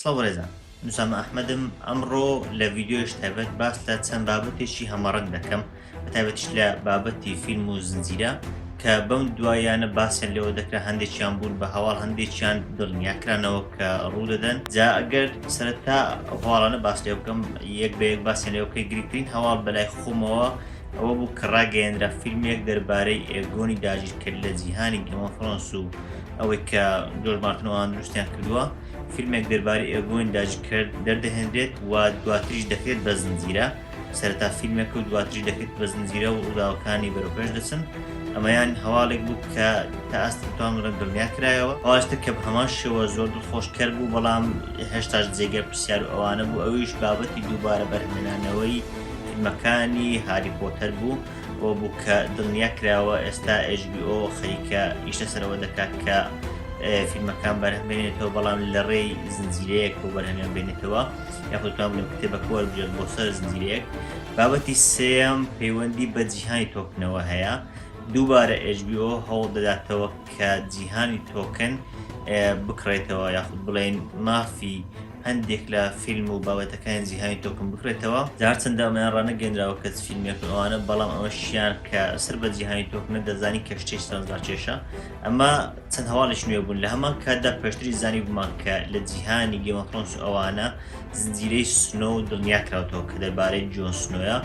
سڵاو بەڕێزان نوسامە ئەحمەدم ئەمڕۆ لە ڤیددیوش تایبەت باس لە چەند بابەتێکی هەمەڕەنگ دەکەم بەتابەتش لە بابەتی فیلم و زنجیرە کە بەم دوایانە باسیان لەوە دەکرا هەندێکیان بوون بە هەواڵ هەندێکیان دڵنیاکرانەوە کە ڕوو دەدەن جا ئەگەر سەرتا هەواڵانە باس لێ بکەم یەک بە یەک باسیان لێوکەی گرنگترین هەواڵ بەلای خۆمەوە ئەوە بوو کە ڕاگەیەنرا فیلمێک دەربارەی ئێگۆنی داگیرکرد لە جیهانی گەمە فڕۆنس و ئەوەی کە جۆر مارتنەوەیان دروستیان کردووە فیلمێک دەربارەی ئێگۆین داگیرکرد دەردەهێنرێت و دواتریش دەکرێت بە زنجیرە سەرتا فیلمێک و دواتری دەکرێت بە زنجیرە و ڕووداوەکانی بەرەپێش دەچن ئەمەیان هەواڵێک بوو کە تا ئەستتان ڕەن دڵنیا کرایەوە ئاستە کە هەمان شێوە زۆر دڵخۆشکەر بوو بەڵام هێشتاش جێگە پرسیار و ئەوانە بوو ئەویش بابەتی دووبارە بەرهمێنانەوەی فیلمەکانی هاری پۆتەر بوو بۆ بوو کە دڵنیا کراوە ئێستا HBO خەریکە ئیشە سەرەوە دەکات کە فیلمەکان بەرهمێنێتەوە بەڵام لە ڕێی زنجیرەیەک بۆ بەرهەمیان بێنێتەوە یاخودتوان لە کتێبەکە وەربێت بۆ سەر زنجیرەیەک بابەتی سێم پەیوەندی بە جیهانی تۆکنەوە هەیە دووبارە HBO هەوڵ دەداتەوە کە جیهانی تۆکن بکڕێتەوە یاخود بڵێن مافی هەندێک لە فیلم و بابەتەکانی جیهانی تۆکم بکرێتەوە، جا هەرچەندە ئەمەیان ڕانەگەێنراوە کەچ فیلمێک و ئەوانە بەڵام ئەوەشیان کە سەر بە جیهانی تۆکنە دەزانی کە شتێک چەند ڕاکێشە ئەمە چەند هەواڵیش نوێ بوون لە هەمان کاتدا پێشتری زانی بمان کە لە جیهانی گەمەخۆنس ئەوانە زنجیرەی سنۆ و دڵنیا کراوتەوە کە دەربارەی جۆن سنۆە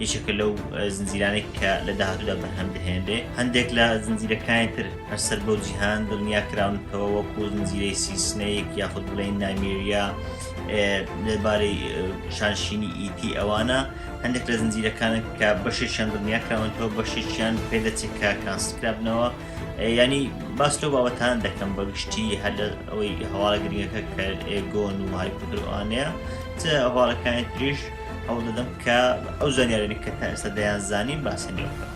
یەکێکە لەو زنجیرانێک کە لە داهاتوودا بەرهەم دەهێنێ هەندێک لە زنجیرەکانی تر هەر سەر بەو جیهان دڵنیا کراونتەوە وەکو زنجیرەی سیسنەیەک یاخود بڵێن نامیریا لەبارەی شانشینی ئیتی ئەوانە هەندێک لە زنجیرەکانە کە بەشێکیان دڵنیا کراونەوە بەشێکیان پێدەچێت کە کانسکرابنەوە ینی باس لەو باوەتان دەکەم بە گشتی هەر لە ئەوەی هەواڵە گرنگەکە کە ئێگۆن و هایپدروانەیە چ هەواڵەکانی تریش هەوڵ دەدەم کە ئەو زانیارێک کە تا ئێستا دەیان زانین باسێنەوە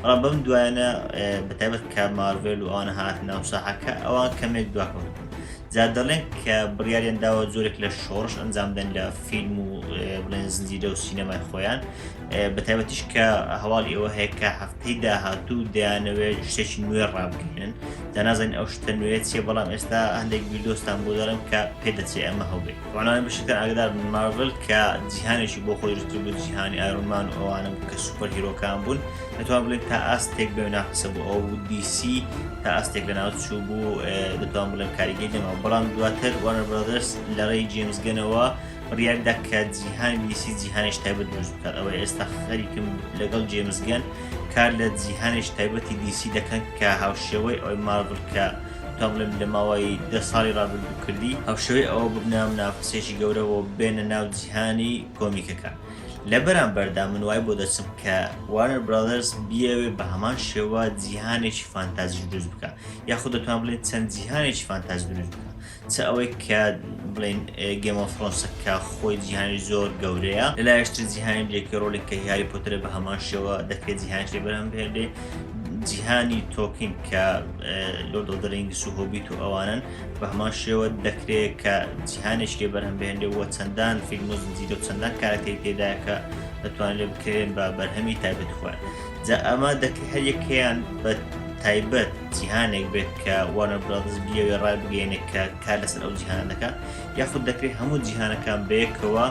بەڵام بەم دوایانە بەتابەت کە مارڤێل و ئەوان هات ناو ساحەکە ئەوان کەمێک دواکەون جا دەڵێن کە بڕیاریان داوە زۆرێک لە شۆڕش ئەنجامدەن لە فیلم و بڵێن زنجیرە و سینەمای خۆیان بەتابەتیش کە هەواڵ ئێوە هەیە کە هەفتەی داهاتوو دەیانەوێت شتێکی نوێ ڕابگەێنن دەنازانین ئەو شتە نوێت چێ بەڵام ئێستا هەندێک بیردۆستان بۆ دەڵێن کە پێدەچێ ئەمە هەوبێت ڕۆنانی بەشەکە ئاگدار بن مارڤل کە جیهانێکی بۆ خۆی دروست بوو جیهانی ئارونمان و ئەوانە بوو کە سوپەر هیرۆکان بوون دەتوان بڵێت تا ئاستێک بێ ناقسە بوو ئەو بوو دیسی تا ئاستێک لە ناوچوو بوو دەتوان بڵێن کاریگەی دەما بەڵام دواتر وانەر برادرس لە ڕێی جێمزگەنەوە ڕیاکدا کە جیهانی دیسی جیهانش تایبەت دروست بکات ئەوە ئێستا خەریکم لەگەڵ جێمزگەن کار لە جیهانش تایبەتی دیسی دەکەن کە هاوشێوەی ئەوەی مارڤل کە دەڵێم لە ماوەی دە ساڵی ڕابردوو کردی هەوشەوەی ئەوە ببنە منافەسێکی گەورە بۆ بێنە ناو جیهانی کۆمیکەکە لە بەرامبەردا من وای بۆ دەچم کە وارنەر برادرز بیاوێ بە هەمان شێوە جیهانێکی فانتازیش دروست بکە یاخود دەتوان بڵێن چەند جیهانێکی فانتاز دروست بکە چ ئەوەی کە بڵێن گێم ئۆف ثرۆنسە کە خۆی جیهانی زۆر گەورەیە لەلایشتر جیهانی درێکی ڕۆلێک کە هیاری پۆترە بە هەمان شێوە دەکرێت جیهان شێ بەرهەم بهێنێ جیهانی تۆکین کە لۆرد ئۆف دە رینگس و هۆبیت و ئەوانن بە هەمان شێوە دەکرێت کە جیهانێک لێ بەرهەم بهێنێ وە چەندان فیلم و زنجیرە و چەندان کارەکتەری تێدایە کە دەتوانێت لێ بکرێن بە بەرهەمی تایبەت خۆیان جا ئەمە دەکرێت هەر یەکەیان بە تایبەت جیهانێک بێت کە وانە برادز بیەوێ ڕای بگەینێک کە کار لەسەر ئەو جیهان دەکە یاخود دەکرێت هەموو جیهانەکان بەیەکەوە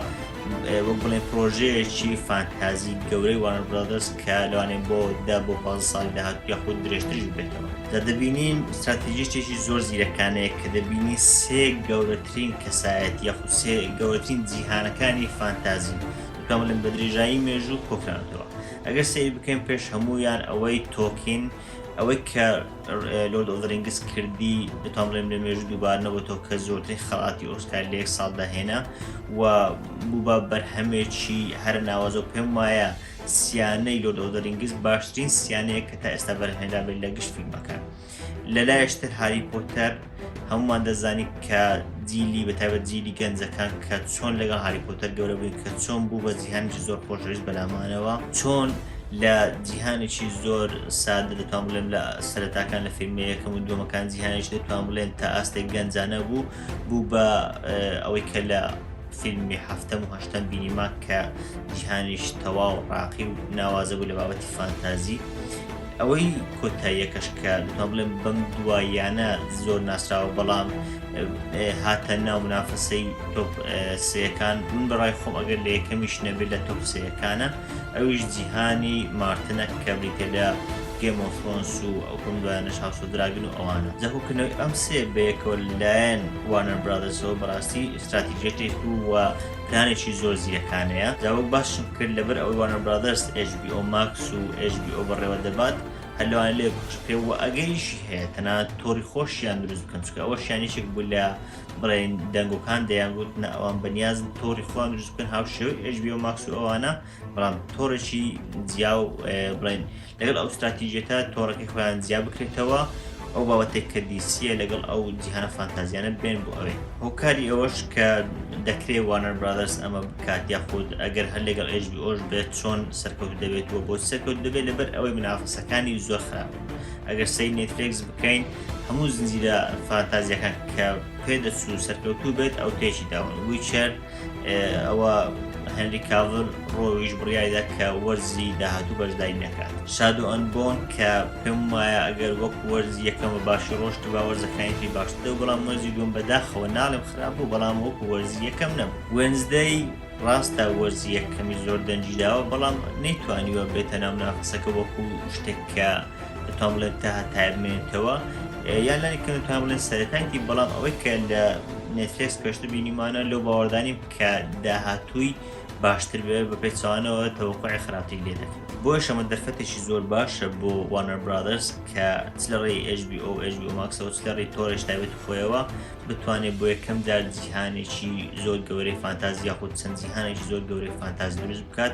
وەک بڵێ پرۆژەیەکی فانتازی گەورەی وانە برادرس کە لەوانێ بۆ دا بۆ پاز ساڵی داهات یاخود درێژترش بێتەوە دە دەبینین استراتیژیێکی زۆر زیرەکانەیە کە دەبینی سێ گەورەترین کەسایەت یاخود سێ گەورەترین جیهانەکانی فانتازی کاملن بە درێژایی مێژوو کۆکراندەوە ئەگەر سەیر بکەین پێش هەموویان ئەوەی تۆکین ئەوەی کە لۆرد ئۆدرنگس کردی بتان بڵێم لە مێژ دووبار نەبێتەوە کە زۆرترین خەڵاتی ئۆسکار لە یەک ساڵدا هێنا و بوو بە بەرهەمێکی هەر ناوازە و پێم وایە سیانەی لۆرد ئۆدرنگس باشترین سیانەیە کە تا ئێستا بەرهێنرابێت لە گشت فیلمەکان لە لایشتر هاری پۆتەر هەمومان دەزانی کە جیلی بەتابەت جیلی گەنجەکان کە چۆن لەگەڵ هاری پۆتەر گەورە بووین کە چۆن بوو بە جیهانجی زۆر خۆشەویست بەلامانەوە چۆن لە جیهانێکی زۆر سادە دەتوان بڵێم لە سەرتاکان لە فیلمە یەکەم و دومەکان جیهانش دەتوان بڵێن تا ئاستێک گەنجانە بوو بوو بە ئەوەی کە لە فیلمی هەفتم و هەشتم بینیمان کە جیهانیش تەواو ڕاقی و ناوازە بوو لە بابەتی فانتازی ئەوەی کۆتاییەکەش کە دوتا بڵێم بەم دواییانە زۆر ناسراوە بەڵام هاتە ناو منافەسەی تۆپ سەکان من بەڕای خۆم ئەگەر لە یەکەمیش نەبێت لە تۆپ سەکانە ئەویش جیهانی مارتنە کە بریتە لە گێمۆفۆنس و ئەو کۆم دوایانە شاسۆ دراگن و ئەوانە زەهوکردنەوەی ئەم سێ بەیەکەوە لایەن وانەر برادەسەوە بەڕاستی استراتیژێتێک و پلانێکی زۆر زیرەکانەیە جا وەک باسشم کرد لەبەر ئەوەی وانە برادەرس ئێچ بی ئۆ ماکس و ئێچ بی ئۆ بەڕێوە دەبات هەر لەوانە لێ بخش پێ و ئەگەریشی هەیە تەنانەت تۆڕی خۆشیان دروست بکەن چکە ئەوە شانیشێک بوو لە بڵێن دەنگۆکان دەیان گوتنە ئەوان بەنیازن تۆڕی خۆیان دروست بکەن هاو شێوەی ئێچ بی ئۆ ماکس و ئەوانە بەڵام تۆڕێکی جیا و بڵێن لەگەڵ ئەو ستراتیژێتە تۆڕەکەی خۆیان جیا بکرێتەوە ئەو بابەتێک کە دیسیە لەگەڵ ئەو جیهانە فانتازیانە بێن بۆ ئەوێ هۆکاری ئەوەش کە دەکرێ وانەر برادرس ئەمە بکات یاخود ئەگەر هەر لەگەڵ ئێژبی ئۆش بێت چۆن سەرکەوت دەبێت و بۆ سەرکەوت دەبێت لەبەر ئەوەی منافەسەکانی زۆر خراپ ئەگەر سەی نێتفلێکس بکەین هەموو زنجیرە فانتازیەکان کە پێ دەچوو سەرکەوتوو بێت ئەو تێکی داون ویچەر ئەوە هەنری کاڤل ڕۆویش بڕایدا کە وەرزی داهاتوو بەشداری نەکات شاد و ئەنبۆن کە پێم وایە ئەگەر وەک وەرز یەکەمە باشی ڕۆشت با وەرزەکانی باشتە و بەڵام وەرزی دوم بەداخەوە ناڵم خراپ بوو بەڵام وەک وەرزی یەکەم نەبوو وێنزدەی ڕاستە وەرزی یەکەمی زۆر دەنجیداوە بەڵام نەیتوانیوە بێتە ناو نافسەکە وەکو شتێک کە دەتوان بڵێن تا هەتایە بمێنێتەوە یا لەنێک کە دەتوان بڵێن سەرەتایەتی بەڵام ئەوەی کە لە نێتفێکس پێشتر بینیمانە لەو باوەڕدانیم کە داهاتووی باشتر بێ بە پێچوانەوە تەوەقعی خراپتری لێ دەکەن بۆ شەمە دەرفەتێکی زۆر باشە بۆ وانەر برادرس کە چ لە ڕێی HBO HBO ماکسەوە چ لە ڕێی تۆرش تابێت خۆیەوە بتوانێت بۆ یەکەم جار جیهانێکی زۆر گەورەی فانتازی یاخود چەند جیهانێکی زۆر گەورەی فانتاز دروست بکات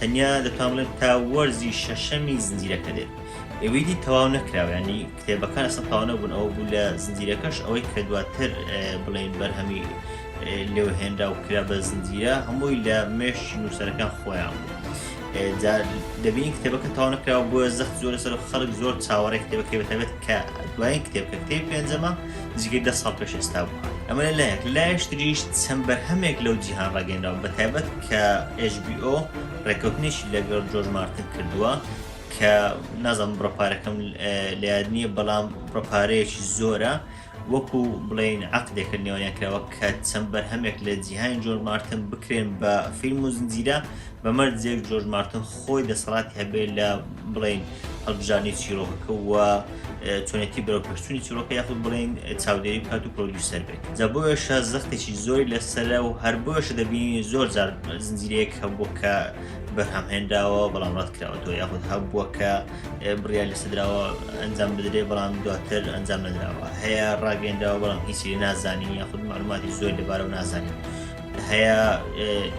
تەنیا دەتوان بڵێم تا وەرزی شەشەمی زنجیرەکە دێت ئەوەی دی تەواو نەکراویانی کتێبەکان ئەسە تاوا نەبوون ئەوە بوو لە زنجیرەکەش ئەوەی کە دواتر بڵێن بەرهەمی لێو هێنرا و کرا بە زنجیرە هەمووی لە مێش نووسەرەکان خۆیان بوو. دەبینی کتێبەکە تاوانەکراوە بۆە زەخت زۆر لەسەر خەڵک زۆر چاوەڕێ کتێبەکەی بەتابێت کە دوایین کتێب کە کتێب پێنجەمە نزیکەی دە ساڵ پێش ئێستا بووە ئەمە لە لایەک لە لایەش تریش چەند بەرهەمێک لەو جیهان ڕاگەێنراوە بە تایبەت کە HBO ڕێککەوتنیشی لەگەڵ جۆرج مارتن کردووە کە نازم بڕپارەکەم لە یاد نییە بەڵام بڕپارەیەکی زۆرە وەکو بڵین عقدێکە نێوانیان کراوە کە چەند بەرهەمێک لە جیهانی جۆر مارتن بکرێن بە فیلم و زنجیرە بەمەرجێک جۆرج مارتن خۆی دەسەڵاتی هەبێت لە بڵین هەڵبژاردنی چیرۆکەکە و چۆنێتی بەرەو پرسوونی چیرۆکە یاخود بڵین چاودێری بکات و پرۆدیوسەر بێت جا بۆیشە زەختێکی زۆری لەسرە و هەر بۆیشە دەبینی زۆر جار زنجیرەیەک هەبوو کە بەرهەمهێنراوە بەڵام ڕات کراوەەوە یاخود هەبووە کە بریا لە سدراوە ئەنجام بدرێ بەڵام دواتر ئەنجام نراوە هەیە ڕاگەێنراوە بەڵام هیچی نازانین یاخود معلوماتی زۆر لەبارە و نازانین. هەیە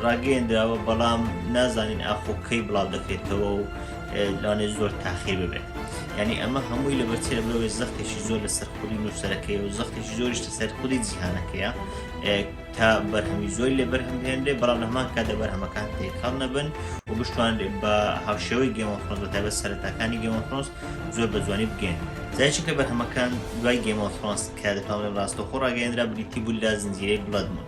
ڕاگەیەندراوە بەڵام نازانین ئاخۆ کەی بڵاو دەکرێتەوە و لەوانێ زۆر تاخیر ببێت ینی ئەمە هەمووی لە بەچێ بەوێ زەختێکی زۆر لە سەرخودی نووسەرەکەی و زەختێکی زۆریشتە سەرخودی جیهانەکەیە تا بەرهەمی زۆری لە بەرهەم هێنرێ بەڵام لەمان کا دە بەرهەمەکان تێکەڵ نەبن و بشتوان بە هاوشێوەی گەمەفرۆز بە تابە سەرەتاکانی گەمەفرۆز زۆر بە جوانی بگەن زایچ کە بەرهەمەکان دوای گەمەفرۆنس کە دەتوانێت ڕاستەخۆ ڕاگەێنرا بریتی بوو لە زنجیرەی بڵدمون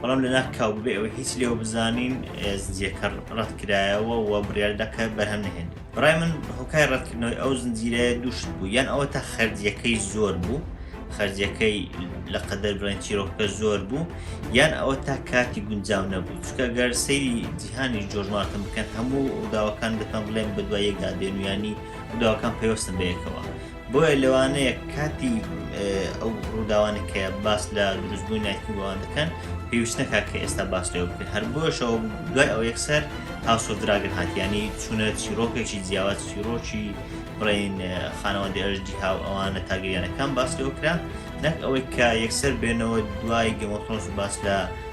بەڵام لە ناخ کاو ببێ ئەوەی هیچ لێوە بزانین زنجیەکە ڕەتکرایەوە و بڕیار دەکە بەرهەم نهێن بڕای من هۆکای ڕەتکردنەوەی ئەو زنجیرەیە دووشت بوو یان ئەوە تا خەرجیەکەی زۆر بوو خەرجیەکەی لە قەدەر بڵێن چیرۆکەکە زۆر بوو یان ئەوە تا کاتی گونجاو نەبوو چکە گەر سەیری جیهانی جۆرماتم بکەن هەموو وداوەکان دەکەم بڵێن بە دوای یەکدا دێنویانی وداوەکان پێوەستن بەیەکەوە بۆیە لەوانەیە کاتی ئەو ڕووداوانە کە باس لە دروستبووی نایکوبووان دەکەن پێویستەکە کە ئێستا باس لێ بکرێت هەر بۆشەوە دوای ئەو یەکسەر هاوسۆدراگەر هااتیانی چونە چیرۆکێکی جیاواز چیرۆکی بڵین خانەوەندی ئەرژدی هاو ئەوانە تاگەیانەکان باس لێوکرا نەک ئەوەی کە یەکسەر بێنەوە دوای گەمەتۆنس باس لە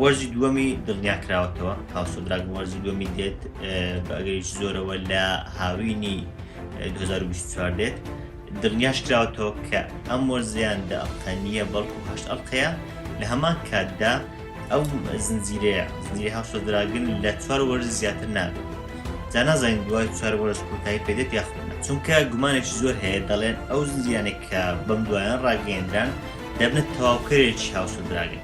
وەرزی دووەمی دڵنیا کراوەتەوە هاوسۆ دراگن وەرزی دووەمی دێت بە ئەگەریش زۆرەوە لە هاوینی 2024 دێت دڵنیاش کراوەتەوە کە ئەم وەرزیان دە ئەڵقەنیە بەڵکو هەشت ئەڵلقەیە لە هەمان کاتدا ئەو زنجیرەیە زنجیری هاوسۆ دراگن لە چوار وەرز زیاتر نابێت جا نازانین دوای چوار وەرز کۆتایی پێدێت یاخود چونکە گومانێکی زۆر هەیە دەڵێن ئەو زنجیانێک کە بەم دوایان ڕاگەیەندران دەبنە تەواوکەرێکی هاوسۆ دراگن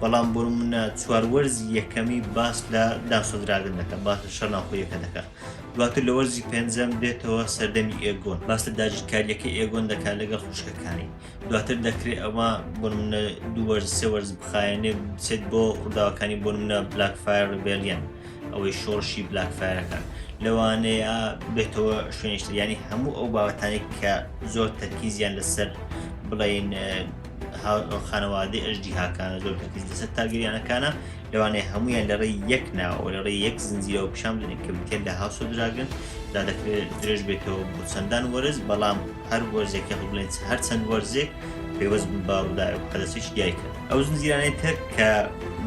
بەڵام برومنە چوار وەرزی یەکەمی باس لە داسۆزراگن دەکە باس لە شەر ناوخۆیەکە دەکە دواتر لە وەرزی پێنجەم دێتەوە سەردەمی ئێگۆن باس لە داگیرکاریەکە ئێگۆن دەکات لەگەڵ خوشکەکانی دواتر دەکرێت ئەوە برومنە دووەرز سێ وەرز بخایەنێ بچێت بۆ ڕووداوەکانی برومنە بلاک فایر ڕبێلیان ئەوەی شۆڕشی بلاک فایرەکان لەوانەیە بێتەوە شوێنشتر ینی هەموو ئەو بابەتانی کە زۆر تەرکیزیان لەسەر بڵین خانەوادەی ئەژدیهاکانە زۆر تەکیز لەسەر تارگریانەکانە لەوانەیە هەمویان لە ڕێی یەک ناوە لە ڕێی یەک زنجیرەوە پیشان بدەن کە بکێن لە هاوسۆ دراگن دا دەکرێت درێژ بێتەوە بۆ چەندان وەرز بەڵام هەر وەرزێک یاخود بڵێن هەر چەند وەرزێک پێوەست بن بە ڕووداوی قەدەسێکی دیایکە ئەو زنجیرانەی تر کە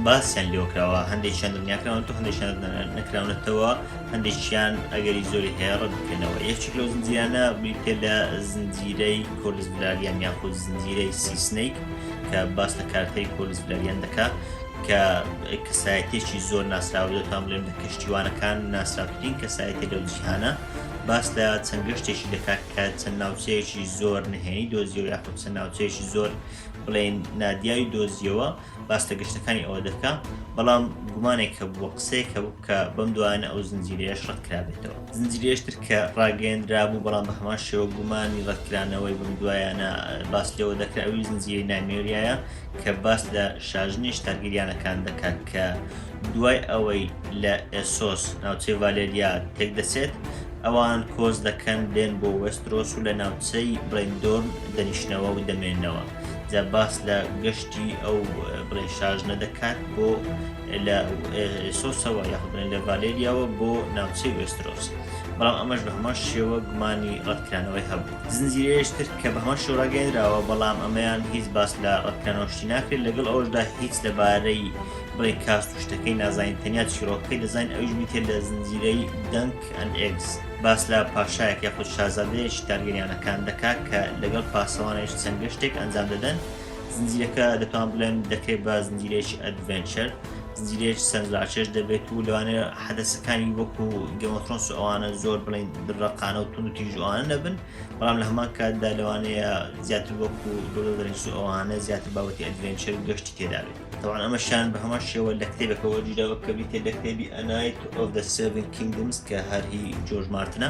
باسیان لێوکراوە هەندێکیان دڵنیاکراون تو هەندێکیان نەکراونەتەوە هەندێکیان ئەگەری زۆری هەیە ڕەت بکەنەوە یەکێک لەو زنجیرانە بریتێ لە زنجیرەی کۆلس بلالیان یاخود زنجیرەی سیسنیک کە باس لە کارتەری کۆلس بلالیان دەکات کە کەسایەتێکی زۆر ناسراوە دەتوان بڵێم لە کەشتیوانەکان ناسراوترین کەسایەتی لەو جیهانە باس لە چەند گەشتێکی دەکات کە چەند ناوچەیەکی زۆر نهێنی دۆزیەوە یاخود چەند ناوچەیەکی زۆر بڵێن نادیاوی دۆزیەوە باس لە گەشتەکانی ئەوە دەکا بەڵام گومانێک کە بووە قسەیەک کە کە بەم دوانە ئەو زنجیرەیەش ڕەتکرابێتەوە زنجیرێشتر کە ڕاگەیەندرا بوو بەڵام بە هەمان شێوە گومانی ڕەتکرانەوەی بم دوایانە باس لەوە دەکرا ئەوی زنجیری نامێریایە کە باس لە شاژنیش تاگیریانەکان دەکات کە دوای ئەوەی لە ئێسۆس ناوچەی ڤالێریا تێک دەچێت ئەوان کۆز دەکەن دێن بۆ وەسترۆس و لە ناوچەی ڕێندۆرن دەنیشتنەوە و دەمێنەوە. جا باس لە گەشتی ئەو بڵێ شاژنە دەکات بۆ لە سۆسەوە یاخبرێن لە ڤالێریاوە بۆ ناوچەی وێسترۆس بەڵام ئەمەش بە هەمان شێوە گومانی ڕەتکرانەوەی هەبوو زنجیرەیەشتر کە بە هەمان شۆراگەێنراوە بەڵام ئەمەیان هیچ باس لە ڕەتکرانەوەشتی ناکرێت لەگەڵ ئەوشدا هیچ لەبارەی بڵێ کاست و شتەکەی نازانین تەنیا چیرۆکەکەی دەزانین ئەوش میتێ لە زنجیرەی دەنگ ئەن ئێکس باس لە پاشایەک یاخود شازادەیەکی تارگەریانەکان دەکات کە لەگەڵ پاسەوانێش چەند گەشتێک ئەنجام دەدەن زنجیرەکە دەتوان بڵێن دەکرێت بە زنجیرێکی ئەدڤێنچەر زنجیرێک سەرنجڕاکێش دەبێت و لەوانێ حەدەسەکانی وەکو گەمەفرۆنس ئەوانە زۆر بڵین ڕقانە و تون و تیژوانە نەبن بەڵام لە هەمان کاتدا لەوانەیە زیاتر وەکو دۆڵدرنس و ئەوانە زیاتر بابەتی ئەدڤێنچەر و گەشتی تێدابێت طبعا ئەمە شان بە هەمان شێوە لە کتێبەکەەوە جیراوە کە بریتە لە کتێبی ئەنایت ئۆف دە سڤن کینگمز کە هەرهی جۆرج مارتنە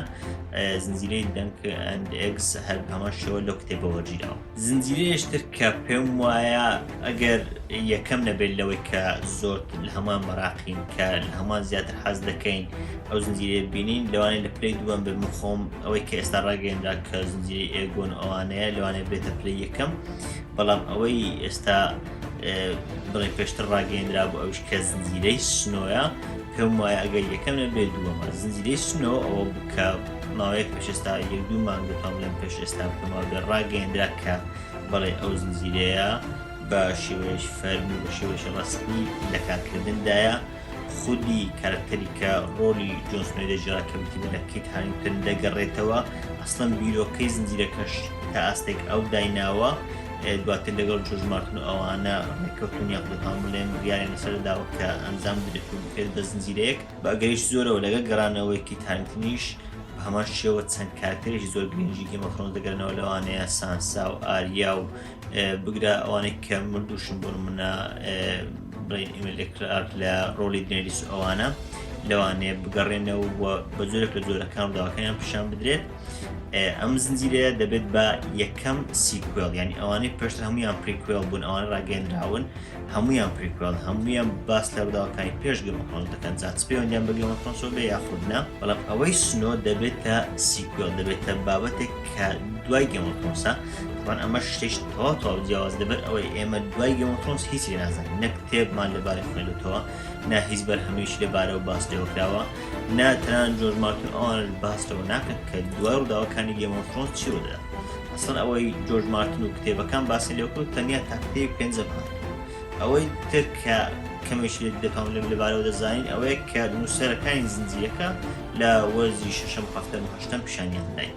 زنجیرەی دەنک ئەند ئەگز هەر هەمان شێوە لەو کتێبەوە جیراوە زنجیرەیەشتر کە پێم وایە ئەگەر یەکەم نەبێت لەوەی کە زۆر لە هەمان مەراقین کە لە هەمان زیاتر حەز دەکەین ئەو زنجیرە بینین لەوانێ لە پلی دووەم بم خۆم ئەوەی کە ئێستا ڕاگەێنرا کە زنجیری ئێگۆن ئەوانەیە لەوانێ بێتە پلی یەکەم بەڵام ئەوەی ئێستا بڵێ پێشتر ڕاگەیندرا بۆ ئەوش کە زنجیرەی سنۆە پێم وایە ئەگەر یەکەم نە بێ دووەمە زنجیرەی سنەوە ئەوە بکە ماوەیەک پێش ئێستا یەک دوو مانگ دەتوان لەم پێش ئێستا بکەمەوە بێ ڕاگەیندرا کە بڵێ ئەو زنجیرەیە بە شێوەیەش فەرم و بە شێوەش ڕسمی لە کارکردندایە خودی کارکتەری کە ڕۆلی جۆنسنۆی دەژرا کە بتیمە لە کیت هاریتن دەگەڕێتەوە ئەسڵم بیرۆکەی زنجیرەکەش تا ئاستێک ئەو دایناوە دواتر لەگەڵ جۆرج مارتن و ئەوانە ڕێککەوتن یاخود دەتوانم بڵێم بڕیاریان لەسەر داوە کە ئەنجام بدرێت و بکرێت بە زنجیرەیەک بە ئەگەریش زۆرەوە لەگەڵ گەڕانەوەی کیت هارینگتنیش بە هەمان شێوە چەند کارکتەرێکی زۆر گرنگی گێم ئۆف ثرۆنس دەگەرنەوە لەوانەیە سانسا و ئاریا و بگرە ئەوانەی کە مردووشن بۆ نمونە بڵێن ئیمێل ئێکرار لە ڕۆلی دنێریس ئەوانە لەوانەیە بگەڕێنەوە و بە جۆرێک لە جۆرەکان و داواکانیان پیشان بدرێت ئەم زنجیرەیە دەبێت بە یەکەم سیکوێل یعنی ئەوانەی پێش هەمویان پریکوێل بوون ئەوان ڕاگەندراون هەمویان پریکوێل هەمویان باس لە ڕداوەکانی پێش گەمەخۆن دەکەن زیاتپێوەندیان بە گەمەخۆنسۆبێ یاخودنا بەڵام ئەوەی سنۆ دەبێتە سیکوێل دەبێتە بابەتێک کە دوای گەمەخۆنسە بەڵام ئەمە شتێک تەواو تەواو جیاواز دەبێت ئەوەی ئێمە دوای گەمەخۆنس هیچی نازانین نەک کتێبمان لەبارەی خوێندوتەوە ناهیز بەرهەمیش لەبارەوە باس لێوەکراوە نا تەنانەت جۆرج مارتن ئەوان باس لەوە ناکەن کە دوای ڕووداوەکانی گێمۆفرۆنس چی ڕوودا ئەسڵ ئەوەی جۆرج مارتن و کتێبەکان باسی لێکرد تەنیا تاکتەی پێنجە بکات ئەوەی تر کە کەمێش لێ دەکەم لە لەبارەوە دەزانین ئەوەیە کە نووسەرەکانی زنجیرەکە لە وەرزی شەشەم هەفتەم هەشتم پیشانیان داین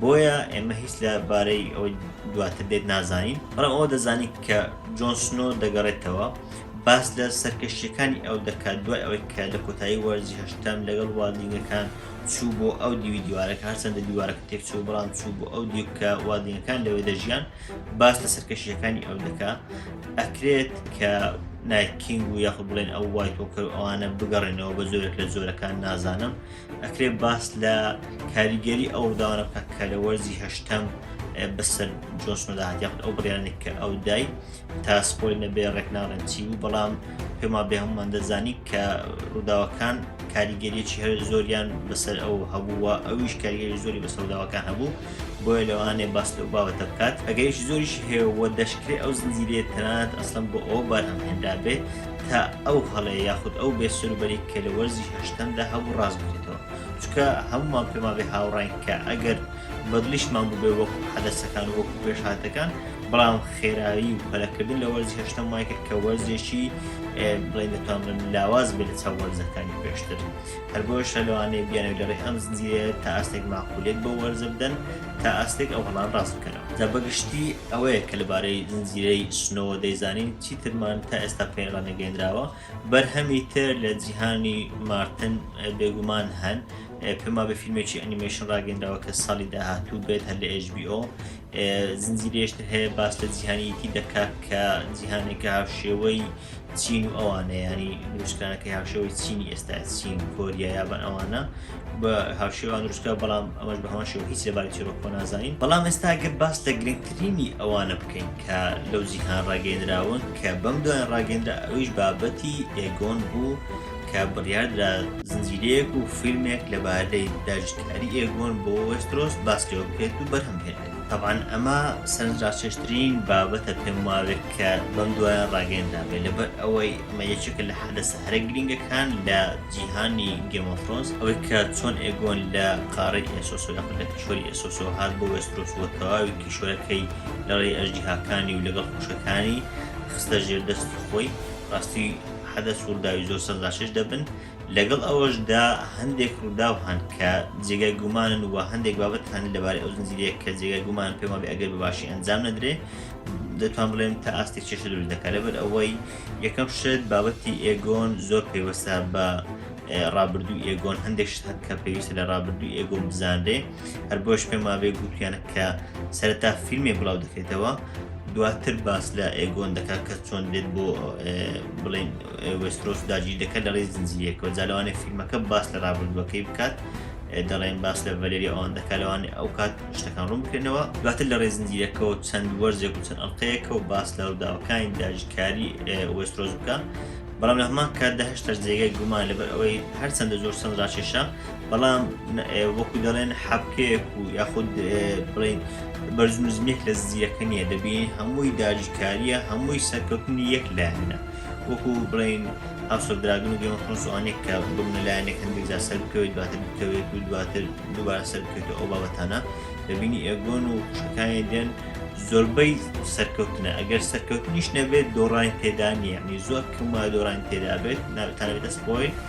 بۆیە ئێمە هیچ لە بارەی ئەوەی دواتر دێت نازانین بەڵام ئەوە دەزانین کە جۆن سنۆ دەگەڕێتەوە باس لە سەرکەشییەکانی ئەو دەکات دوای ئەوەی کە لە کۆتایی وەرزی هەشتەم لەگەڵ وادینگەکان چوو بۆ ئەو دیوی دیوارەکە هەرچەندە دیوارەکە تێکچوو بەڵام چوو بۆ ئەو دیو کە وادینگەکان لەوێ دەژیان باس لە سەرکەشیەکانی ئەو دەکا ئەکرێت کە نایکینگ و یاخ بڵێن ئەو وای تۆکە ئەوانە بگەڕێنەوە بە زۆرێک لە زۆرەکان نازانم ئەکرێت باس لە کاریگەری ئەو داوانە بکە کە لە وەرزی هەشتەم بەسەر جۆسمەدا هاتیاخت ئەو بڕیانێک کە ئەو دای تا سپۆی نەبێ ڕێک ناڵێن چی بوو بەڵام پێما بێ هەمومان دەزانی کە ڕووداوەکان کاریگەریەکی هەر زۆریان بەسەر ئەو هەبووە ئەویش کاریگەری زۆری بە سەوداوەکان هەبوو بۆیە لەوانێ باس لەو باوەتە بکات ئەگەیش زۆریش هەیەوە دەشکرێت ئەو زنجیرێ تەنانەت ئەسلم بۆ ئەو بارهەم هێنرا بێت تا ئەو هەڵێ یاخود ئەو بێ سەربەری کە لە وەرزی هەشتەمدا هەبوو ڕاست بێتەوە چکە هەمومان پێما بێ هاوڕین کە ئەگەر بەدلیشمان بوو بێ وەکو حەدەسەکان وەکو پێشهاتەکان بەڵام خێرایی و پەلەکردن لە وەرزی هەشتم وای کرد کە وەرزێکی بڵێن دەتوانن لاواز بێت لە چاو وەرزەکانی پێشتر هەر بۆ شەلوانەیە بیانەوە لە ڕێ ئەم زنجیرە تا ئاستێک ماقولێک بۆ وەرزە بدەن تا ئاستێک ئەو هەڵان ڕاست بکەنەوە جا بەگشتی ئەوەیە کە لەبارەی زنجیرەی سنەوە دەیزانین چیترمان تا ئێستا پێڕا نەگەێنراوە بەرهەمی تر لە جیهانی مارتن بێگومان هەن پێما بە فیلمێکی ئەنیمەشن ڕاگەندراوە کە ساڵی داهاتوو بێت هەر لە HBO زنجیرەیەشتر هەیە باس لە جیهانیەتی دەکات کە جیهانێکە هاوشێوەی چین و ئەوانە ینی نوشتانەکە هاوشێوەی چینی ئێستا چین کۆریا یابان ئەوانە بە هاوشێوان نوشتە بەڵام ئەمەش بە هەمەشەوە هیچ لەباری چیرۆکۆ نازانین بەڵام ئێستا گەر باس لە گرنگترینی ئەوانە بکەین کە لەو جیهان ڕاگەێنراون کە بەم دوای ڕاگەندرا ئەویش بابەتی ئێگۆن بوو کە بڕیاردرا زنجیرەیەک و فیلمێک لەبارەی داگیرکاری ئێگۆن بۆ وێسترۆس باس لێوە بکرێت و بەرهەم بهێنرێت تەبعەن ئەمە سەرنجڕاکێشترین بابەتە پێم وابێت کە بەم دوایە ڕاگەیەندرابێت لەبەر ئەوەی ئەمە یەکێکە لە حەدەسە هەرە گرینگەکان لە جیهانی گێم ئۆف ثرۆنس ئەوەی کە چۆن ئێگۆن لە قاڕەی ئێسۆس و یاخود لە کیشوەری ئێسۆس و هات بۆ وێسترۆس و تەواوی کیشوەرەکەی لەڕێی ئەژدیهاکانی و لەگەڵ خوشکەکانی خستە ژێر دەستی خۆی ڕاستی حەدەس و ڕووداوی زۆر سەرلاشەش دەبن، لەگەڵ ئەوەشدا هەندێک ڕووداو هەن کە جێگای گومانن و هەندێک بابەت هەن لەبارەی ئەو زنجیرەیە کە جێگای گومانن پێم وابێ ئەگەر بە باشی ئەنجام نەدرێ دەتوان بڵێم تا ئاستێک چێشە دروست دەکات لەبەر ئەوەی یەکەم شت بابەتی ئێگۆن زۆر پەیوەستە بە ڕابردوو ئێگۆن هەندێک شت هەن کە پێویستە لە ڕابردوو ئێگۆن بزانرێ هەر بۆش پێم وابێ گوتویانە کە سەرەتا فیلمێ بڵاو دەکرێتەوە دواتر باس لە ئێگۆن دەکات کە چۆن دێت بۆ بڵێن وسترۆس داگیر دەکات لە ڕێز زنجیرێکەوە جالوانێ فیلمەکە باس لە ڕابردوەکەی بکات دەڵێن باس لە ڤەلێری ئەوان دەکالەوانێ ئەو کات شتەکان ڕوون بکەنەوە دواتر لە ڕێزنجیرەکەەوە چەند وەرزێک و چەند ئەڵلقەیەکە و باس لە ڕووداوەکانی داژکاری وسترۆز بکە بەڵام لە هەمان کاتدا هەشتا جێگای گومان لەبەر ئەوەی هەرچەندە زۆر سەند ڕاکێشە بەڵام وەکو دەڵێن حەبکەیەک و یاخود بڵین بەرزنزمێک لە زیەکە نیە دەبین هەمووی داجیکاریە هەمووی سەرکەوتنی یەک لایەنە وەکو بڵین هاوسەدراگن و گەمەخۆسوانێک کە بگنە لایەنێک هەندێک جا سەر بکەوێت دواتر بکەوێت و دواتر دووبارە سەر بکەێت ئەو بابەتانە دەبینی ئێگۆن و خوشەکانی دێن زۆربەی سەرکەوتنە ئەگەر سەرکەوتنیش نەبێت دۆڕانی تێدا نیە نی زۆر کەمە دۆڕانی تێدا بێت ناوتانێتە سپۆیل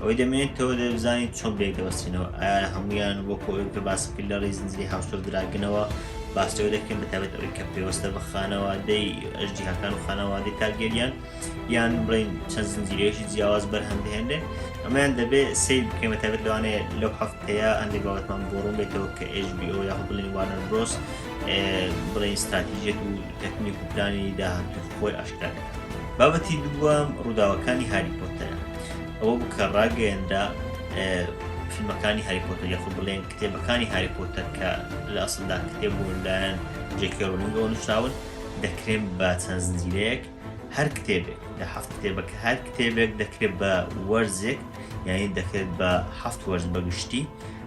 ئەوەی دەمێنێتەوە دەبزانین چۆن بێک دەوەستینەوە ئایا هەمویان بۆ کۆی کە باس کرد لە ڕێی زنجری هاوسۆر دراگنەوە باستەوە دەکەن بەتابێت ئەوەی کە پێوەستە بە خانەوادەی ئەژدیهاکان و خانەوادەی تارگەریان یان بڵین چەند زنجیرێکی جیاواز بەرهەم دەهێنێ ئەمەیان دەبێت سیر بکەمە تابێت لەوانێ لەو هەفتەیە هەندێک بابەتمان بۆڕوون بێتەوە کە ئێژبیۆ یاخ بڵین وانەر برۆس بڵین ستراتیژێت و تەکنیک و پلانی داهاتووی خۆی ئاشکرا کرد. بابەتی دووەم ڕووداوەکانی هاری پۆتەرە. ئەوە بوو کە ڕاگەیەنرا فیلمەکانی هاری پۆتەر یاخود بڵێن کتێبەکانی هاری پۆتەر کە لە ئەسڵدا کتێب بوون لایەن جێکی ڕۆلینگەوە نووسراون دەکرێن بە چەند زنجیرەیەک هەر کتێبێک لە هەفت کتێبە کە هەر کتێبێک دەکرێت بە وەرزێک یعنی دەکرێت بە هەفت وەرز بەگشتی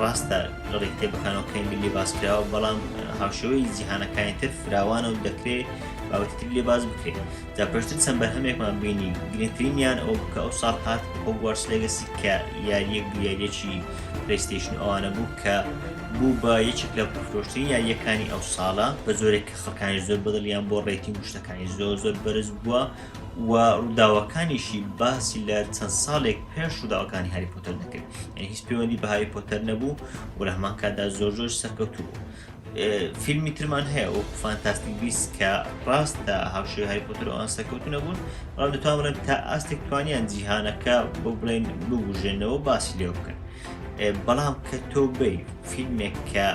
ڕاستە لەڕێی کتێبەکانەوەکەی ملی باسکراوە بەڵام هاوشێوەی جیهانەکانی تر فراوانە و دەکرێت باوەتتر لێ باز بکرێت دا پێشتر چەند بەرهەمێکمان بینی گرنگترینیان ئەو کە ئەو ساڵ هات هۆگوارس لەگەسی کە یاریەک یاریەکی پلیستیشن ئەوانە بوو کە بوو بە یەکێک لە پرۆشترین یاریەکانی ئەو ساڵە بە زۆرێک کە خەکانی زۆر بەدڵیان بۆ ڕێتی مشتەکانی زۆر زۆر بەرز بووە و ڕووداوەکانیشی باسی لە چەند ساڵێک پێش ڕووداوەکانی هاری پۆتەر دەکرد یعنی هیچ پەیوەندی بە هاری پۆتەر نەبوو و لە هەمان کاتدا زۆر زۆر سەرکەوتوو بوو فیلمی ترمان هەیە و فانتاستیک بیس کە ڕاستە هاوشێ هاری پۆتەر ئەوان سەرکەوتو نەبوون بەڵام دەتوانن تا ئاستێک توانیان جیهانەکە بۆ بڵێن ببوژێنەوە باسی لێ بکەن بەڵام کە تۆ بی فیلمێک کە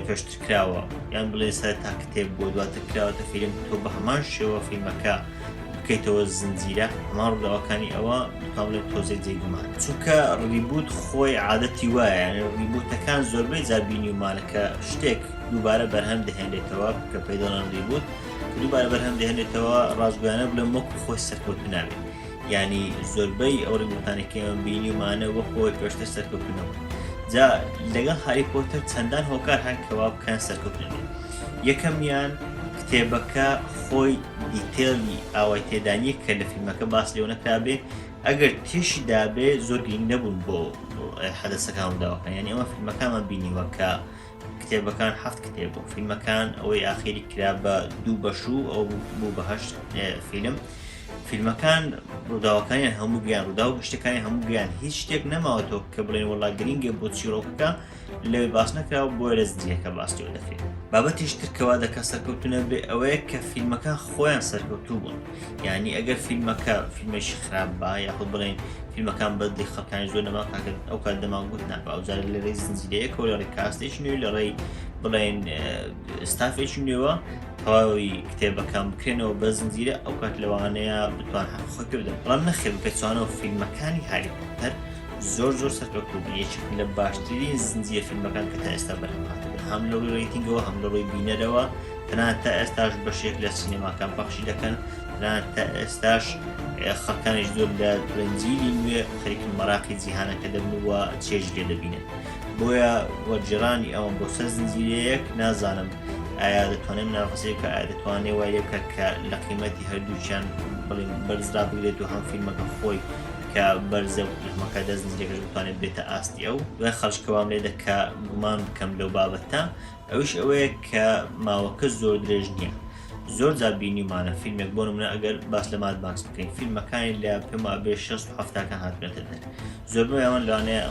پێشتر کراوە یان بڵێ سەر تا کتێب بۆ دواتر کراوەتە فیلم تۆ بە هەمان شێوە فیلمەکە بکەیتەوە زنجیرە هەمان ڕداوەکانی ئەوە دوکان لە تۆزێ جێگومان چونکە ڕیبوت خۆی عادەتی وایە ڕیبوتەکان زۆربەی زابینی ومانەکە شتێک دووبارە بەرهەم دەهێنێتەوە کە پێداڵان ڕیبوت دووبارە بەرهەم دەهێنێتەوە ڕاستگویانە بلە مەکو خۆی سەرکەوت نابێت یعنی زۆربەی ئەو ڕیوتانە کێمە بینیمانە وە خۆی پێشتر سەرکەوتنەوە جا لەگەڵ هاری پۆتە چەندان هۆکار هەن کەوا بکەن سەرکەوتن یەکەمیان کتێبەکە خۆی دیتێڵی ئاوای تێدانیە کە لە فیلمەکە باس لێو نەکرابێ ئەگەر تێشی دابێ زۆر گرنگ نەبوون بۆ حەدەسەکان داوەکان یعنی ئەمە فیلمەکانمان بینیوە کە کتێبەکان حەفت کتێب بوو فیلمەکان ئەوەی ئاخیری کرا بە دوو بەش و ئەو بوو بەهشت فیلم فیلمەکان ڕووداوەکانیان هەموو گیان ڕوودا و شتەکانی هەموو گیان هیچ شتێک نەماوەتەوە کە بڵێن وڵا گرنگێ بۆ چیرۆکەکە لەوێ باس نەکراوە بۆ لە زدیەکە باستیەوە دەکرێت بابەتیش ترکەوا دەکە سەرکەوتونە بێ ئەوەیە کە فیلمەکان خۆیان سەرکەوتوو بوون یانی ئەگەر فیلمەکە فیلمێکی خراپ با یاخود بڵێن فیلمەکان بەدی خەکان زۆر نەما کاکرد ئەو کات دەماگووت ناپ ئەوجار لە ڕێی زنجیرەیەکە لە ڕێ کاستێکی نوێ لە ڕێی بڵێن ستافێکی نوێوە تەواوی کتێبەکان بکرێنەوە بە زنجیرە ئەو کات لەوانەیە بتوان حەقخۆی کردن بەڵام نەخێت پێچوانەوە فیلمەکانی هاری پۆتەر زۆر زۆر سەرکەوتوو یەکی لە باشترین زنجیە فیلمەکان کە تا ئێستا بەرهەمهاتە هەم لە ڕووی ڕیتنگەوە هەم لە ڕووی بینەرەوە تەنانەت تا ئێستاش بەشێک لە سینەماکان پەخشی دەکەن تەنانەت تا ئێستاش خەکانیش زۆر لە درەنجیلی نوێ خەریکن مەراقی جیهانەکە دەبنووە چێژ لێ دەبینن بۆیە وەرجێرانی ئەوم بۆ سەر زنجیرەیەک نازانم ئایا دەتوانێت نافەسێکە ئایا دەتوانێت وای لێ بکات کە لە قیمەتی هەردووچیان بڵین بەرزرا بگرێت و هەم فیلمەکە خۆی کە بەرزە و فیلمەکە دەست زنجیرەکەش بتوانێت بێتە ئاستی ئەو دوای خەرجکەوام لێ دەکە گومان بکەم لەو بابەتە ئەویش ئەوەیە کە ماوەکە زۆر درێژ نییە زۆر جار بینیمانە فیلمێک بۆ منە ئەگەر باس لە ماد ماکس بکەین فیلمەکانی لە پێما بێ 16 هەفتاکە هاتنێتە دەر زۆربەی ئەوان لەوانەیە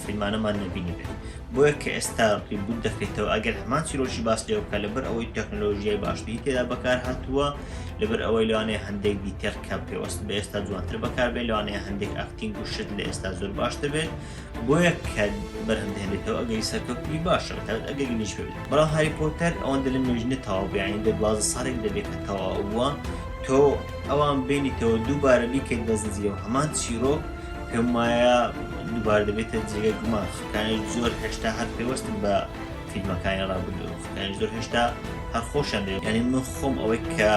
فیلمانەمان نبینی بێت بۆیە کە ئێستا ڕیبوت دەکەیتەوە ئەگەر هەمان چیرۆکی باس لێ بکە لەبەر ئەوەی تەکنۆلۆژیای باشتری تێدا بەکار هاتووە لەبەر ئەوەی لەوانەیە هەندێک دیتێر کە پێوەست بە ئێستا جوانتر بەکاربێت لەوانەیە هەندێک ئاکتینگ و شت لە ئێستا زۆر باشتر بێت بۆیە کە بەرهەم دەهێنێتەوە ئەگەری سەرکەوتنی باشە بە تایبەت ئەگەری نوێژ بێت بەڵام هاری پۆتەر ئەوەندە لە نوێژ نەتەواو بێ یانی دە دوازدە ساڵێک دەبێت کە تەواو بووە تۆ ئەوان بینیتەوە دووبارە بیکەیت بە زنجیرە و هەمان چیرۆک پێم وایە دووبار دەبێتە جێگە گومان خەکانی زۆر هێشتا هەر پێوەستن بە فیلمەکانی ڕابردوو خەکانی زۆر هێشتا هەر خۆشیان دەوێت یعنی من خۆم ئەوەی کە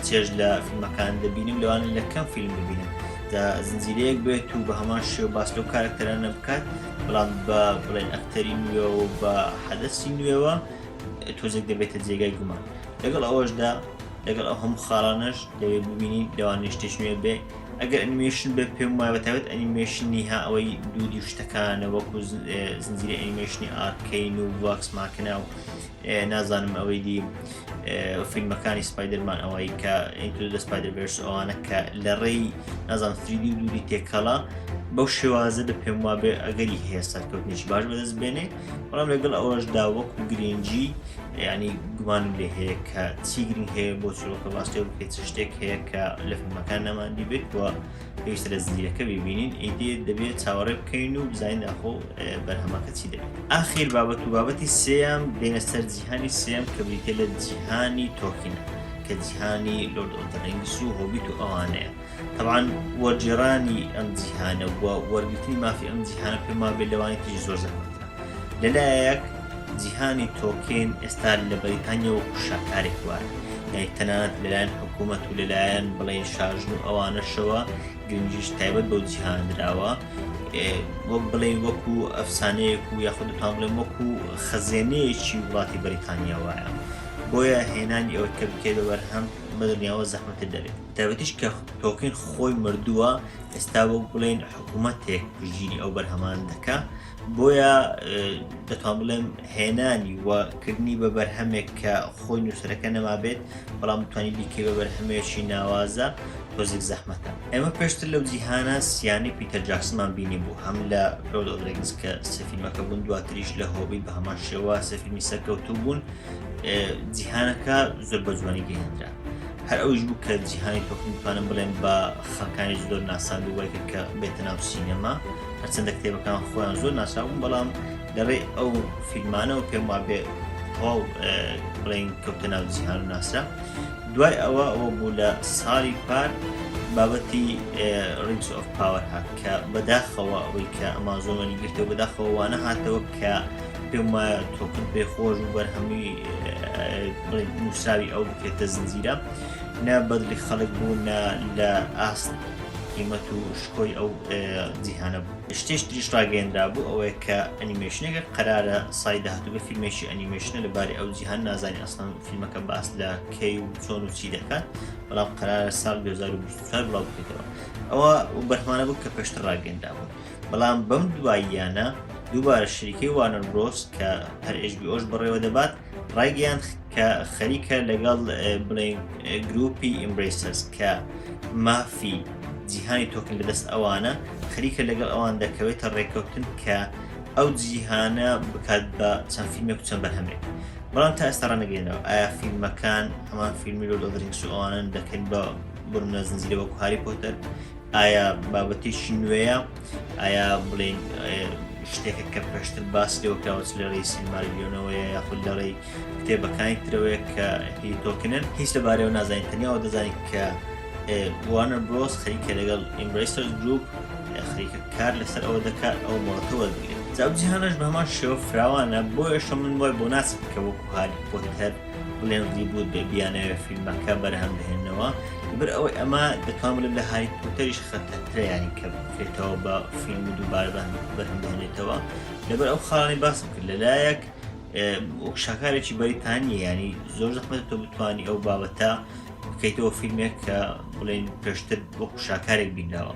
چێژ لە فیلمەکان دەبینم لەوانە لە کەم فیلم ببینم دا زنجیرەیەک بێت و بە هەمان شێو باس لەو کارکتەرانە بکات بەڵام بە بڵێن ئەکتەری نوێ و بە حەدەسی نوێوە تۆزێک دەبێتە جێگای گومان لەگەڵ ئەوەشدا لەگەڵ ئەو هەموو خاڵانش دەوێ ببینی لەوانی شتێک نوێ بێ ئەگەر ئەنیمێشن بێ پێم وایە بەتابێت ئەنیمێشنی ها ئەوەی دوودی شتەکانە وەکو زنجیری ئەنیمێشنی ئارکەین و واکس ماکنا و نازانم ئەوەی دی فیلمەکانی سپایدرمان ئەوەی کە ئینتو دە سپایدر بێرس ئەوانە کە لە ڕێی نازان فریدی و دووری تێکەڵە بەو شێوازە دە پێم وابێ ئەگەری هەیە سەرکەوتنیش باش بەدەست بێنێ بەڵام لەگەڵ ئەوەشدا وەک و گرنگجی ینی گومانم لێ هەیە کە چی گرنگ هەیە بۆ چۆکە باستێ بکەیت شتێک هەیە کە لە فیلمەکان نەماندی بێت وە پێویستە لە زنجیرەکە ببینین ئیدی دەبێت چاوەڕێ بکەین و بزانین ئەخۆ بەرهەمەکە چی دەبێت ئاخیر بابەت و بابەتی سێم بێنە سەر جیهانی سێم کە بریتە لە جیهانی تۆکینە کە جیهانی لۆرد ئۆتەرنگس و هۆبیت و ئەوانەیە تەوان وەرجێڕانی ئەم جیهانە وەرگرتنی مافی ئەم جیهانە پێما بێت لەوانی تری زۆر زەحمەتە لەلایەک جیهانی تۆکین ئێستا لە بەریتانیا و شاکارێک وایە یای تەنانەت لەلایەن حکوومەت و لەلایەن بڵێن شاژن و ئەوانەشەوە گرنگیش تایبەت بەو جیهاندراوە وەک بڵێن وەکو ئەفسانەیەک و یاخودتان بڵێن وەکو خەزێنەیەکی وڵاتی بەریتانیا وایە بۆیە هێنانی ئەوە کە بکێت بە بەرهەم بەدڵنیاوە زەحمەتە دەبێت تابەتیش کە تۆکین خۆی مردووە ئێستا وەک بڵێن حکوومەتێک ژیری ئەو بەرهەمان دەکە بۆیە دەتوان بڵێم هێنانی و کردنی بە بەرهەمێک کە خۆی نووسەرەکە نەمابێت بەڵام توانی بیکە بە بەرهەمێکی ناوازە تۆزیک زەحمەتە ئێمە پێشتر لەو جیهانە سیانی پیتە جاکسمان بینی بوو هەم لە ڕۆد ئۆدرگز کە سەفیلمەکە بوون دواتریش لە هۆبی بە هەمان شێوە سەفیلمی سەرکەوتوو بوون جیهانەکە زۆر بە جوانی گەهێنرا هەر ئەوش بوو کە جیهانی تۆکن توانم بڵێن بە خەکانی زۆر ناسان و وای کرد کە بێتە ناو سینەما هەرچەندە کتێبەکان خۆیان زۆر ناساون بەڵام لەڕێ ئەو فیلمانەوە پێم وا بێ تەواو بڵین کەوتە ناو جیهان و ناسرا دوای ئەوە ئەوە بوو لە ساڵی پار بابەتی ڕینس ئۆف پاوەر هات کە بەداخەوە ئەوەی کە ئەمازۆمەنی گرتەوە بەداخەوە وانە هاتەوە کە پێم وایە تۆکن پێ خۆش و بەرهەمی نووساوی ئەو بکرێتە زنجیرە نە بەدلی خەڵک بوو نە لە ئاست قیمەت و شکۆی ئەو جیهانە بوو شتێش تریش ڕاگەێنرا بوو ئەوەیە کە ئەنیمێشنێکە قەرارە سای داهاتووگە فیلمێکی ئەنیمێشنە لەبارەی ئەو جیهان نازانانی ئەسان فیلمەکە باس لە کەی و چۆن و چی دەکات بەڵام قەرارە ساڵ 2024 بڵاو بکەیتەوە ئەوە بەرهمانە بوو کە پێشتر ڕاگەێنرا بوو بەڵام بەم دواییانە دووبارە شریکەی وانەر برۆس کە هەر ئشبیۆش بەڕێوە دەبات ڕایگەیان کە خەریکە لەگەڵ بڵێن گروپی ئیمبریسەس کە مافی جیهانی تۆکن لەدەست ئەوانە خەریکە لەگەڵ ئەوان دەکەوێتە ڕێککەوتن کە ئەو جیهانە بکات بە چەند فیلمێک چەند بەرهەمێک بەڵام تا ئێستا ڕەنەگەێنەوە ئایا فیلمەکان هەمان فیلمی لۆ دەگرنگ سووانن دەکەن بە بڕنە زنجیرەوە کوهاری پۆتەر ئایا بابەتێکی نوێیە ئایا بڵین شتێکە کە پێشتر باس لێوەکراوەچ لە ڕێی سینمالیۆنەوەیە یاخود لە ڕێی کتێبەکانی ترەوەیە کە هی تۆکنن هیچ لەبارەوە نازانین تەنیاوە دەزانین کە وانە برۆس خەریکە لەگەڵ ئیمبریسەر گروپ خەریکە کار لەسەر ئەوە دەکات ئەو مۆڵەتەوە بگرێت جاوجیهانەش بەمان شێوە فراوانە بۆ ئێشە من وای بۆ ناس بکە وەکو هاری پۆتەر بلێندی بوو دەبی بیانەوێت فیلمەکە بەرهەم بهێنەوە بر ئەوەی ئەمە دەتوان بڵێن لە هاری پۆتەریش خەتەتریانی کە بکرێتەوە بە فیلم و دووبارە بەرهەم بهێنێتەوە لەبەر ئەو خاڵی باسم کرد لەلایەک وەک شاکارێکی بەریتانی ینی زۆر زەحمەت تۆ بتانی ئەو بابەتە بکەیتەوە فیلمێک کە بڵێن پێشتر وەکو شاکارێک بینراوە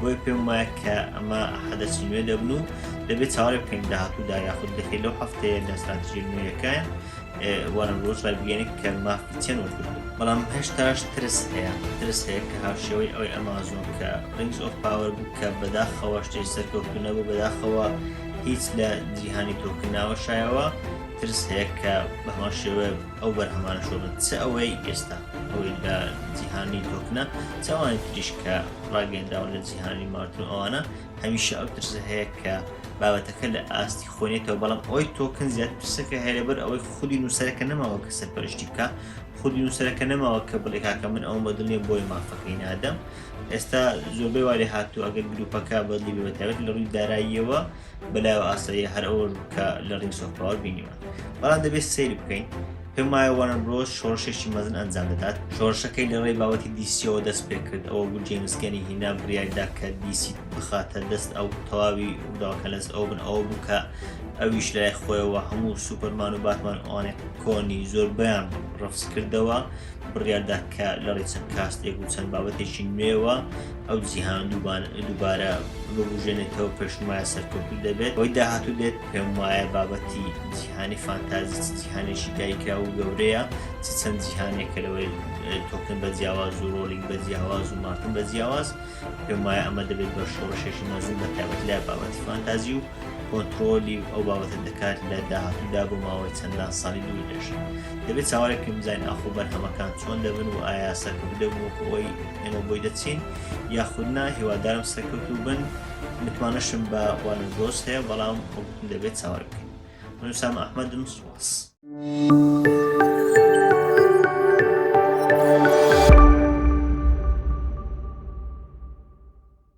بۆیە پێم وایە کە ئەمە حەدەسی نوێ دەبن و دەبێت چاوەێ بکەین داهاتوودا یاخود دەکەین لەو هەفتەیە لە ساتژی نوێیەکەیان وەرە ڕۆژ ڕایبگەێنێک کە مافی چەند وەرگرن بەڵام هەشتاش ترس هەیە ترس هەیە کە هاوشێوەی ئەوەی ئەمازۆن کە ڕنگز ئۆف پاوەر بوو کە بەداخەوە شتێ سەرکەوتنە بۆ بەداخەوە هیچ لە جیهانی تۆکناوە شایەوە ترس هەیە کە بەهۆ شێوە ئەو بەرهەمانە شۆ بن چ ئەوەی ئێستا ئەوەی لە جیهانی دۆکنە چاوانی تریش کە ڕاگەنداون لە جیهانی مارتون ئەوانە هەمیشە ئەو ترسە هەیە کە بابەتەکە لە ئاستی خۆنێتەوە بەڵام ئەوی تۆکن زیاد پرسەکە هەرەبەر ئەوەی خودی نووسەرەکە نەماوە کە سەرپەرشتی بکە خودی نووسەرەکە نەماوە کە بڵێ کاکە من ئەوم بەدڵێ بۆی مافەکەی نادەم ئێستا زۆربەی وارێ هاتوو ئەگەر گروپەکە بەدلی بەتەوێت لە ڕووی داراییەوە بەلایەوە ئاساییە هەر ئەوە بوو کە لە ڕینگس ئۆف پاوەر بینیوە بەڵام دەبێت سەیری بکەین پێم وایە وارن برۆز شۆڕشێکی مەزن ئەنجام دەدات شۆڕشەکەی لە ڕێی باوەتی دیسیەوە دەست پێ کرد ئەوە بوو جێمسگەنی هینا بڕیاردا کە دیسی بخاتە دەست ئەو تەواوی ڕووداوەکە لەست ئەو بن ئەوە بوو کە ئەویش لای خۆیەوە هەموو سوپەرمان و باتمان ئەوانێ کۆنی زۆر بەیان ڕفز کردەوە بڕیاردا کە لە ڕێ چەند کاستێک و چەند بابەتێکی نوێوە ئەو جیهان دووبارە ببوژێنێتەوە پێشمایە سەرکەوتو دەبێت ئەوی داهاتوو دێت پێم وایە بابەتی جیهانی فانتازی چ جیهانێکی دایکرا و گەورەیە چ چەند جیهانێکە لەوەی تۆکن بە جیاواز و ڕۆلینگ بە جیاواز و مارتن بە جیاواز پێم وایە ئەمە دەبێت بە شۆڕشێکی مەزن بە تابەت لە بابەتی فانتازی و کۆنتترۆلی و ئەو بابەتە دەکات لە داهاتوودا بۆ ماوەی چەندان ساڵی دوور دێشن دەبێت چاوەێکم زین ئاخۆ بەرهەمەکان چۆن دەبن و ئایا سەرکەوت دەبوو ئەوەی ئێمە بۆی دەچین یاخود نا هیوادارم سەرکەوت و بن متمانەشم بە وانە گۆز هەیە بەڵام دەبێت چاوەر بکەین منسام ئەحمەدم سوواس.